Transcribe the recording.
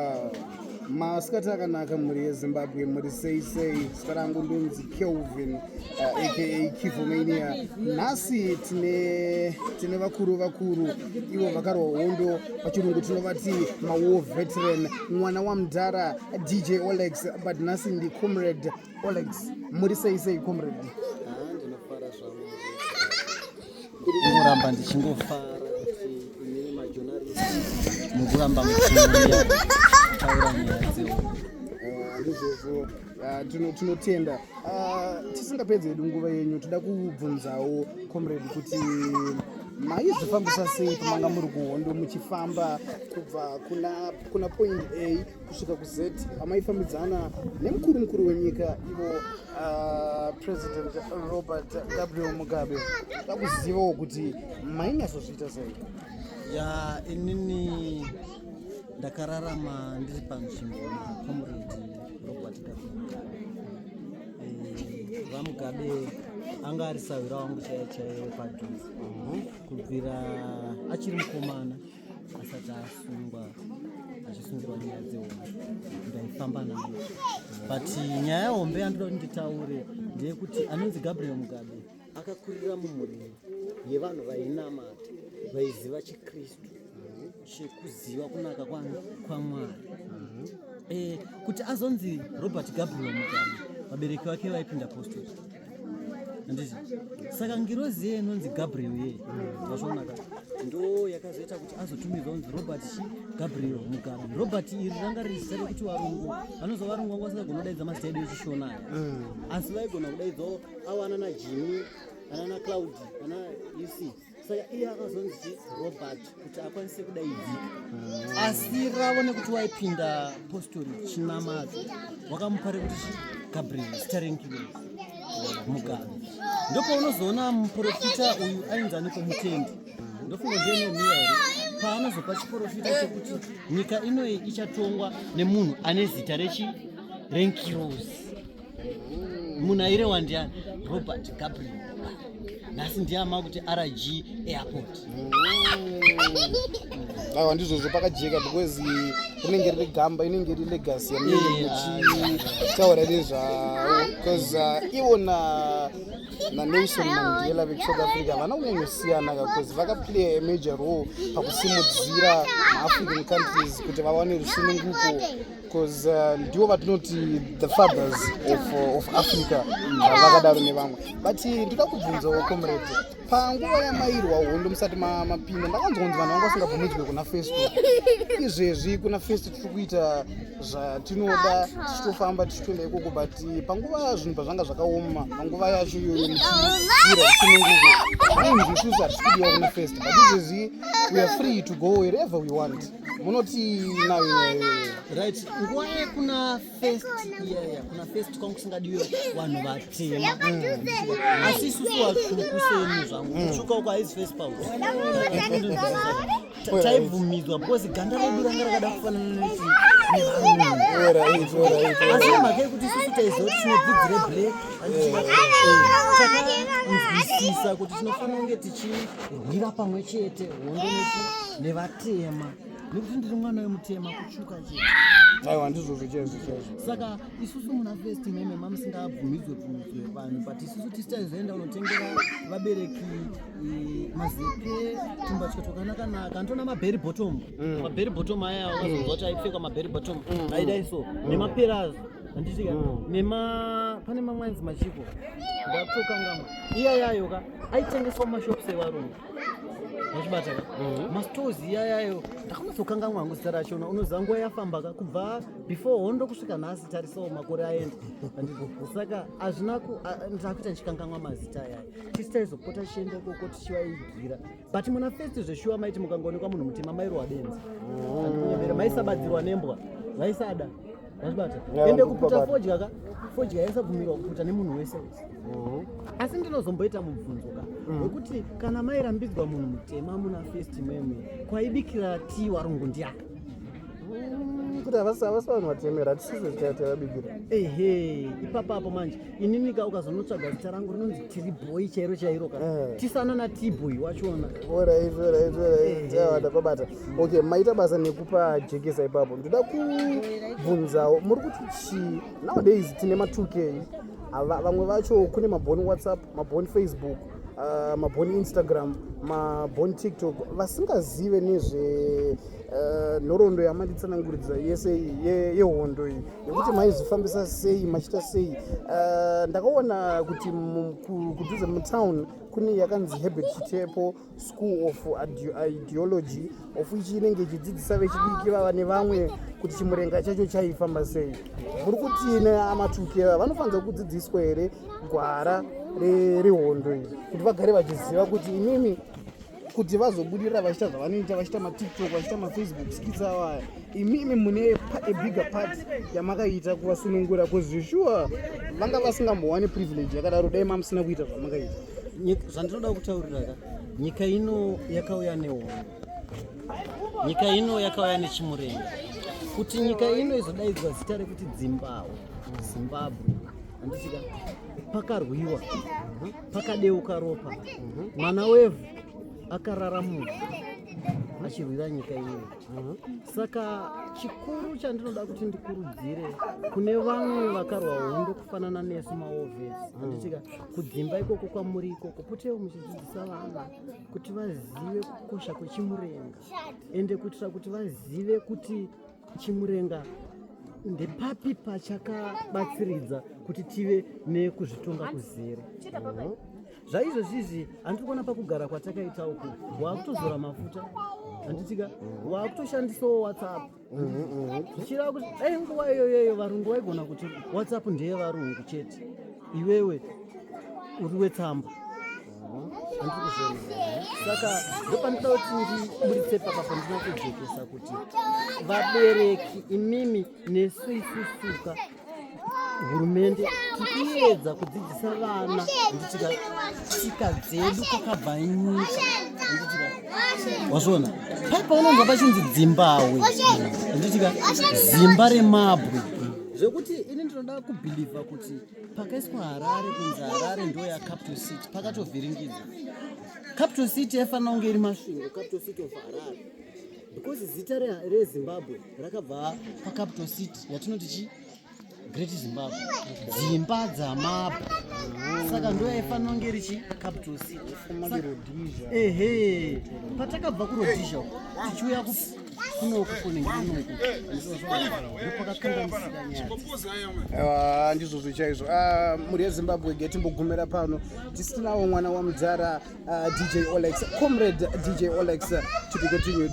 Ah, masikati akanaka mhuri yezimbabwe mhuri sei sei zita rangu ndonzi kelvin uh, eh, aka kivomania nhasi tine tine vakuru vakuru ivo vakarwa hondo pachirungu tinovati mawar veteran mwana wamdhara dj olex but nhasi ndi comrade olex mhuri sei sei comrade kuramba ndichingofara kuti imi majonaristi mukuramba muchiuya kutaura nyaya dzeu ndizvozvo uh, tinotenda uh, tisingapedzi hedu nguva yenyu toda kubvunzawo comrade kuti maizvifambisa sei pamanga muri kuhondo muchifamba kubva kuna, kuna point a kusvika kuz pamaifambidzana nemukuru mukuru wenyika ivo Uh, president robert gabriel mugabe vakuzivawo kuti mainyatsozviita sei ya inini ndakararama ndiri panzvimbo nacomrade robert gabriel mugabe eh, vamugabe anga ari sahwira wangu chaiye chaiye wepadhuze mhm. kubvira achiri mukomana asati asungwa achisungirwa nyaya dzehombe ndaifamba nayo but nyaya hombe yandinoda kuti nditaure ndeyekuti anonzi gabriel mugabe akakurira mumhuri yevanhu vainamata vaiziva chikristu chekuziva kunaka kwamwari eh, kuti azonzi robert gabriel mugabe vabereki vake vaipinda postoti saka ngirozi iye inonzi gabriel iye vazvonaka ndo yakazoita kuti azotumirwa unzi robert chi gabriel mugabe robert iri ranga riri zita rekuti varungu vanozo varungu vanga vasingagona kudaidza mazita edu echishona aya mm. asi vaigona kudaidzawo awana najimi anana claudi ana uc saka iye akazonzi robert kuti akwanise kudaidzika ah. asi ravo nekuti waipinda postori chinamadzo wakamupare kuti gabriel starenkiwe mugano ndopaunozoona muprofita uyu ainzani kumutendi ndofunga ndenomiya here paanozopa chiprofita chekuti nyika inoyi ichatongwa nemunhu ane zita rechi renkirosi munaire wandiani robert gabriel nhasi ndiama kuti rg airport aiwa ndizvozvo pakajeka because rinenge riri gamba inenge iri legacy yamunenge muchitaura nezvavo because uh, ivo na nanelson mandela vekuSouth africa havana kunyanyosiyana because vakaplaya amajor role pakusimudzira maafrican countries kuti vawane rusununguko because uh, ndivo vatinoti the fathers of, uh, of africa uh, vakadaro uh, nevamwe but ndoda kubvunzawo comrade panguva yamairwa hondo musati mapinda ndakanzwa kunzi vanhu vanga vasingabvumidzwe kuna festo izvezvi kuna festo tiri kuita zvatinoda tichitofamba tichitoenda ikoko but uh, panguva zvinhu pazvanga zvakaoma panguva yacho iyoyo muchiira zvisinenguko zvainzi isusu hatisi kudiwa kuna festo but izvezvi weare free to go wherever we want munoti right nguva yekuna first yeah, kuna first kwangu kusingadiwe vanhu vatema asi isusu vatsvuku seni zvangu kutsvuka uko haizi first paul taibvumidzwa because ganda redu ranga rakada kufanana neti asi mhaka yekuti isusu taizoti tine bvudzi reblack takanzwisisa kuti tinofanira kunge tichirwira pamwe chete nevatema nekuti ndiri mwana wemutema kutsvuka aiwa ndizvozvo chaizvo chaizvo saka isusu muna fest meme mamusingabvumidzwe bvumidzwe vanhu but isusu tisitaizoenda unotengera vabereki eh, mazepe tumbatya twakanakanaka anditona maberry bottom mm. maberry bottom aya wazonzwa kuti aipfekwa maberry bottom mm, mm. aidai so nemaperazo andisika nema pane mamwanzi machiko ndatokangamwa iya yayoka aitengeswa mumashops evarungu wachibata mhm. mastores iyayayo ndakanatsokangamwa hangu zita racho unoziva nguva yafamba ka kubva before hondo kusvika nhasi tarisawo makore aenda saka hazvina ndakuita ndichikangamwa mazita ayayo tisi taizopota tichienda ikoko tichivaigira but muna festi zveshuwa maiti mukangoonekwa munhu mutema mairowa benzi mhm. maisabadzirwa nembwa vaisada Wazvibata. Ende kuputa fodya ka. Fodya yesa bvumirwa kuputa nemunhu wese wese. Mhm. Asi ndinozomboita mubvunzo ka. Mm. Wekuti kana mai rambidzwa munhu mutema muna first meme kwaibikira tea warungu ndiya. Mm, kuti havasi havasi vanhu vatemera tisizwe zitaita vabikira. Ehe, ipapa apo manje. Inini ka ukazonotsvaga zita rangu rinonzi tiri boy chairo chairo ka. Eh. Tisana na tea boy wachona. Ora izvo ora izvo ora izvo. Ehe. Ndabata kwabata. okay maita basa nekupa jekesa ipapo ndoda kubvunzawo muri kuti chii nowadays tine ma2 k vamwe vacho kune maboni whatsapp maboni facebook uh, maboni instagram maboni tiktok vasingazive nezve uh, nhoroondo yamanditsananguridza yese yehondo iyi yekuti maizvifambisa sei machita sei uh, ndakaona kuti kudhuze mutown kune yakanzi hebert chitepo school of ideology of ichi inenge ichidzidzisa vechidiki vava nevamwe kuti chimurenga chacho chaifamba sei muri kuti neamatuki ava vanofanira kudzidziswa here gwara rehondo iri kuti vagare vachiziva kuti imimi kuti vazobudirira vachiita zvavanoita vachiita matiktok vachiita mafacebook skits avo aya imimi mune a bigger part yamakaita kuvasunungura bcause sure vanga vasingambowani privilege yakadaro dai mamusina kuita zvamakaita zvandinoda kutaurira ka nyika ino yakauya nehondo nyika ino yakauya nechimurenga kuti nyika ino izodaidzwa zita rekuti dzimbawo zimbabwe handisika pakarwiwa pakadeuka ropa mwana wevhu akarara munhu achirwira nyika ino saka chikuru chandinoda kuti ndikurudzire kune vamwe vakarwa hondo kufanana nesu maovhesi mm. anditika kudzimba ikoko kwamuri ikoko potewo muchidzidzisa vana kuti vazive kukosha kwechimurenga ende kuitira kuti vazive kuti chimurenga ndepapi pachakabatsiridza kuti tive nekuzvitonga kuzere zvaizvezvizvi handiri kuona pakugara kwatakaita uku waakutozora mafuta handitika waakutoshandisawo whatsapp zvichireva kuti dai nguva iyoyoyo varungu vaigona kuti whatsapp ndeye varungu chete iwewe uri wetsamba saka ndopandida kuti ndiburitse papa pandina kujekesa kuti vabereki imimi nesu isusuka hurumende tikuedza kudzidzisa vana nditika tsika dzedu kwakabva nyika wazviona pai paunonzwa pachinzi dzimbawe nditika zimba remabwe zvekuti ini ndinoda kubhilivha kuti pakaiswa harare kunzi harare ndo yacapital city pakatovhiringidza capital city yaifanira kunge iri masvingo capital city of harare because zita rezimbabwe rakabva pacapital city yatinoti chi great zimbabwe dzimba dzamabwe saka ndo yaifanira kunge iri chi capital city ehe patakabva kurodhizha tichiuya aiwa ndizvozvo chaizvo ah, mhuri yezimbabwe getimbogumira pano tisinawo mwana wamudhara Uh, DJ Olex, comrade DJ Olex, to be continued.